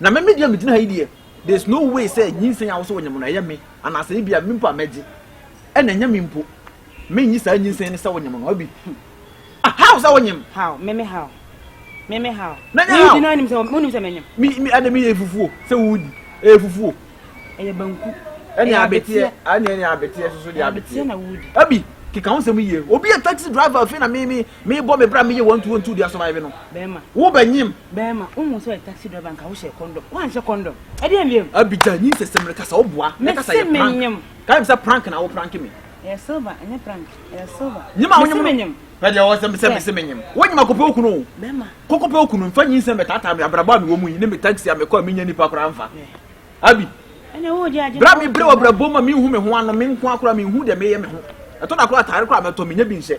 Na me me deɛ megyina ha yi deɛ there is no way sɛ nyinsɛn a wosɛ wɔnyɛ mu no ɛyɛ me anaasɛ ebi a me mpo a mɛgye ɛna ɛnyɛ me mpo menyi saa nyinsɛn no sɛ wɔnyɛ mu no abi ah how sɛ wɔnyɛ mu how me me how me me how na nyɛ how na nim sɛ mo nim sɛ menyɛ me me ɛna me yɛ fufuo sɛ wodi ɛyɛ fufuo ɛyɛ banku ɛne abeteɛ ɛne ɛne abeteɛ soso deɛ abeteɛ na wodi abi keka ho sɛm yie obi yɛ taxi driver afei na me me Mebɔ me bra meyɛ wantu wantu dea survive no. Bɛɛma. Wo bɛ nyim. Bɛɛma. Wohu sɛ ɔyɛ taxi driver nka wo hyɛ condom. Wanhyɛ condom. Ɛdeɛ mbiem. Abigya nyi nsɛsɛm no kasa wo boa. Me kasa yɛ prank. Menyim. Ka kyem sɛ prank na wo prank me. Ɛyɛ silver ɛnyɛ prank. Ɛyɛ silver. Nyim a wonyim no. Mese menyim. Pɛ deɛ ɔwɔ sɛ mesɛ mese menyim. Wonyim a kɔpɛ okunu o. Bɛɛma. Kɔkɔpɛ okunu nfa nyi nsɛm bɛtaataa me abrabɔ a mewɔ mu yi ne me taxi a mekɔ a menya nipa koraa nfa. Abi. Ɛne wo gye agye. Bra mebrɛ wo abrabɔ mu a menhu me ho ano menkoa koraa menhu deɛ meyɛ me ho. Ɛtɔ da koraa atare koraa mɛtɔ menya bi nhyɛ.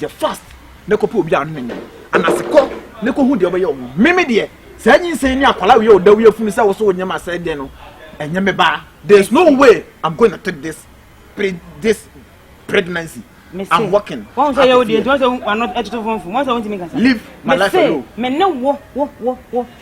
Yɛ fast na kɔpɛ obi a ɔne no nyɛ anase kɔ na kɔhu deɛ ɔbɛyɛ ɔmo. Meme deɛ saa nyinsɛn ni akwala wei a ɔda wei afunu sɛ wo so wo nneɛma asɛe deɛ no ɛnyɛ me baa. There is no way I'm going to take this pre this pregnancy. I'm working. Wɔn sɛ yɛ wo deɛ nti wɔn sɛ wɔn ano ɛtoto fomfom wɔn sɛ wɔn ntumi nkasa. Leave my life alone. Me se me ne wo wo wo wo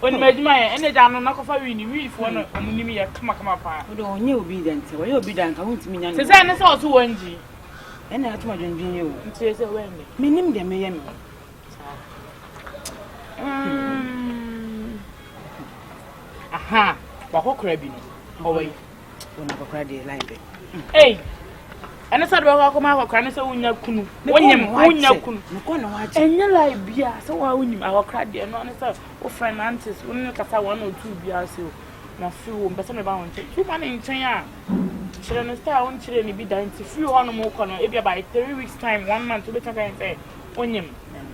Onim adwuma yɛ ɛna gya no na kɔfa wii ni wii foɔ no ɔmo nim yɛ kama kama paa. Wode ɔnyɛ obi dɛ nti wɔyɛ obi da nka wontumi nya no. Te sɛ ɛne sɛ ɔto wɔn gyi. Ɛna atom adwendwen yi o. Nti sɛ wɔn ni. Menim deɛ meyɛ no. Aha wakɔkora bi no ɔwɔ yi. wɔn akɔkora deɛ line bɛ. Ei, ɛne sɛ de bɛkɔ akɔma akɔkora ne sɛ wonya kunu. Wonyim wonya kunu. Ɛnyɛ lie bia sɛ wɔn a wonyim akɔkora deɛ no ne sɛ wo friend aunties wo ne kasa wɔn na otu bia ase o. Na fi wo mpɛ sɛ meba wɔn nkyɛn. Tu ma ne nkyɛn a kyerɛ no sɛ a wonkyerɛ ne bi da nti firi hɔ nom wokɔ no ebia by three weeks time one month wobɛtumi ka sɛ wonyim.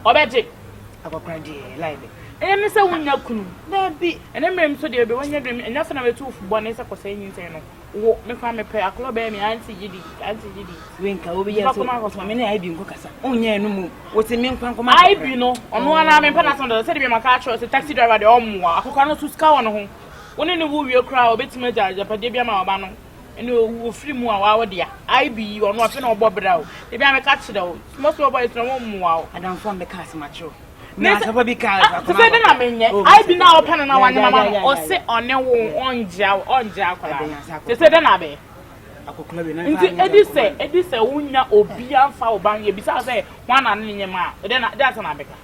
Ɔbɛgye. Akɔkora deɛ ɛyɛ lie bɛ. Ɛyɛ me sɛ wonya kunu. Daabi. Ɛnɛ mmerɛ mu so deɛ bɛ wanya dwen me. Ɛnyɛ afei na mɛtu wo fo bɔne sɛ kɔsɛe nyinsɛn no. Wo, me koraa mepɛ akorɔ bɛyɛ me auntie gyidi, auntie gyidi. Wei nka wo bɛyɛ so, ɔtuma me ne Ivy nko kasa. Ɔnyɛ ɛno mmom. Wo se me nkwa nkɔma akɔkora. Ivy no, ɔno ara na mempɛ n'asɛm dada. Sɛdeɛ maka akyerɛ wo sɛ taxi driver deɛ ɔmmoa. Akɔkora no nso sika wɔ ne ho. Wo ne no wo wie koraa a, ɔbɛtumi agya agyapadeɛ bi ama w'aba no. ɛne owu ofiri mu a wawo dea ayi bi yi ɔno ɔpɛ na ɔbɔ bra o ebi a mɛka kyerɛ o mɔsɔ ɔbɔ ɛtena wɔn mmoa o. adanfo a mɛka asɛm akyerɛ o na asɛmpa bi ka ɛfɛ akɔnɔ sɛ na menyɛ oh, ayi bi na ɔpɛ no na wanyɛ mama no ɔse ɔne wo ɔngyea wo ɔngyea akɔla te sɛ dɛ na abɛ nti edi sɛ edi sɛ wonya obi anfa wo ba yɛ bisa sɛ wɔn anane ne nyɛ ma dɛ na dɛ asɛ na abɛka.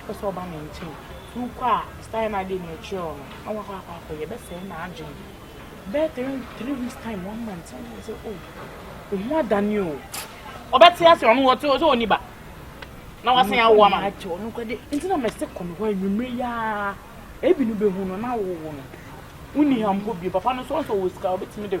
Wopɛ sɛ ɔba me nkyɛn? Sɛ wokɔ a, style no a ɛdeɛ merekyerɛ wo no, na wakɔ akɔ akɔyɛ. Ɛbɛsɛe n'adwene. Bɛyɛ three, three weeks time, one month, na wayɛ sɛ, oh, wo ho adane o. Ɔbɛte ase ɔno wɔ sɛ ɔni ba. Na wasan awo ama no. Akyɛ ɔno kɔde. Nti na mɛsɛ kɔ no hɔ anwummere yi ara. Ebi no bɛhu no na awowo no. Wonni ha mpo bio. Papa no nso, ɔnso ɔwɔ sika, ɔbɛtumi de.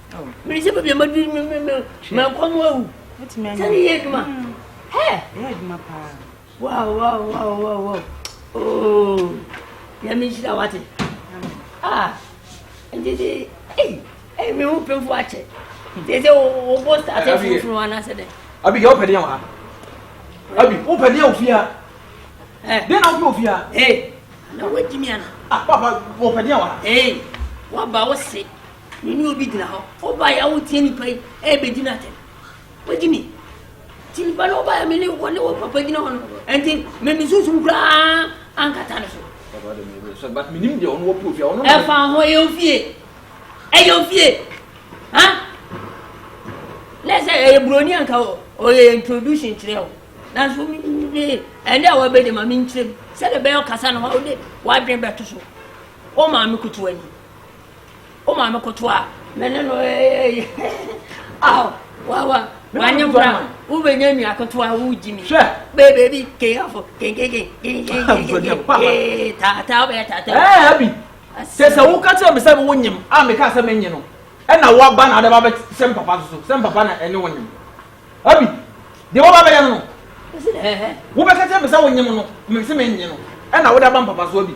mede sɛ baabi a madu mankɔ no awu sɛ ne yɛ adwuma nyame nhyira wate nti de me ho pemfo akyɛ te sɛ wobɔ state foforo anasɛ dɛ abi yɛ wopɛdeɛ wɔ ha abi wopɛdeɛ wɔ fie a deɛ na wopɛ wɔ fie a na woagyimi ana papa wopɛdeɛ wɔ ha waba wo se Me ne obi gyina hɔ. Wobaeɛ a woreteɛ nipa yi rebɛdi no atɛm. Wagye me. Nti nipa no wobaeɛ me ne wɔne wo papa gyina hɔ no. Nti me me sunsum koraa ankata no so. Papa de me yɛ sɛ but menim deɛ ɔno wɔpɛ ofie ɔno. Ɛfa ho ɛyɛ ofie. Ɛyɛ ofie. Ha? Na sɛ ɛyɛ buroni anka ɔyɛ introduction kyerɛ o. Nanso me ɛnde a wɔbɛde ma me nkyerɛ mu. Sɛdeɛ bɛyɛ ɔkasa no hɔ wode wadwen bɛto so. Wo maame kutuwa ni. O maame koto a me ne no ɛyɛ aw wawa wanyɛ bra ma wo bɛ nyɛ nua koto a wo gyi mi bɛ bɛbi keyafo kenkeke kenkeke tata wo bɛ tata. ɛɛ abi sɛ sɛ wo kakyɛ mi sɛ mi wo nyim a mi ka sɛ mi nyi no ɛna wa ba na adaba bɛ sɛ mpapa soso sɛ mpapa na ɛne wo nyim abi deɛ wɔba bɛyɛ no no wo bɛ kakyɛ mi sɛ wo nyim no mi sɛ mi nyi no ɛna wo de aba mpapa so abi.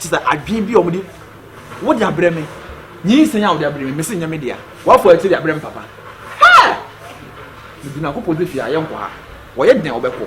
Kyerɛ sɛ adwene bi a wɔde wode abrɛ me nyinsɛn a wode abrɛ me mese nyɛ me dea wafɔ akyiri abrɛ me papa hɛ mede nyankopɔn de fie a yɛnkɔ ha wɔyɛ den a wɔbɛkɔ